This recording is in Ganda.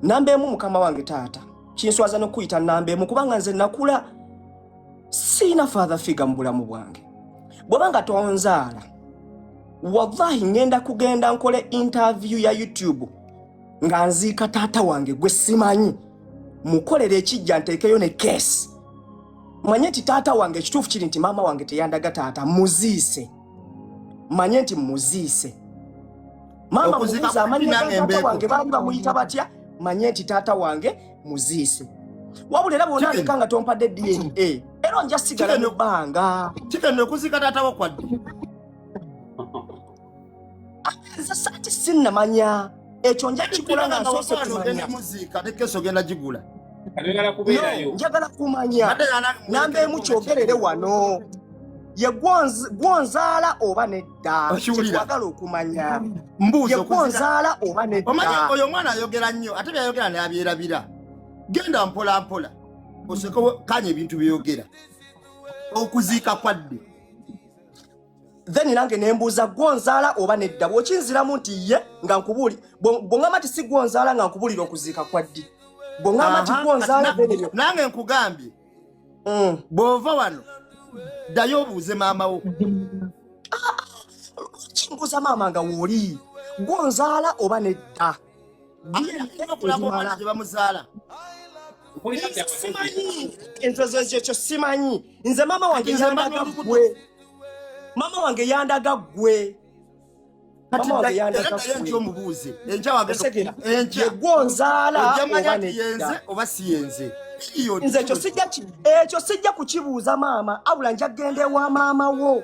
namba emu mukama wange taata kinswaza nokuyita namba emu kubanga nze nakula siina father figa mu bulamu bwange bwaba nga tonzaala wallahi ngenda kugenda nkole interview ya youtube nga nziika taata wange gwe simanyi mukolera ekijja nteekeyo ne kesi manye nti taata wange ekituufu kiri nti maama wange teyandaga taata muziise manye nti muziise mama mubuuza amannya gataata wange baali bamuyita batya manye nti taata wange muziise wabula era bwona aleka nga tompadde dna era onja sigala mu bbanga kigenda okuzika taata wakwadde nze saati sinnamanya ekyo nja kikola nga nsoose kumanya muziika ne keesi ogenda gigula njagala kumanya namba emu kyogerere wano ye gwonzaala oba nedda kyetwagala okumanya ye gwonzaala oba nedda oyo omwana ayogera nnyo ate byayogera nabyerabira genda mpola mpola oseke kanya ebintu byeyogera okuziika kwadde then nange nembuuza gwonzaala oba nedda bwokinziramu nti ye nga nkubuuli bwongamba nti si gwonzaala nga nkubuulira okuziika kwa ddi bwongamba nti gwonzaala nange nkugambye mm. bwova wano ddayo obuuze maama wo kimbuuza maama nga wooli gwonzaala oba nedda gyebamuzaala simanyi entozoekyekyo simanyi nze maama wange yandaga gwe maama wange yandaga gwe omubuuze enkyawaegwonzaala oba siyenze nze ekyo sijja kukibuuza maama abula njagenda ewa maama wo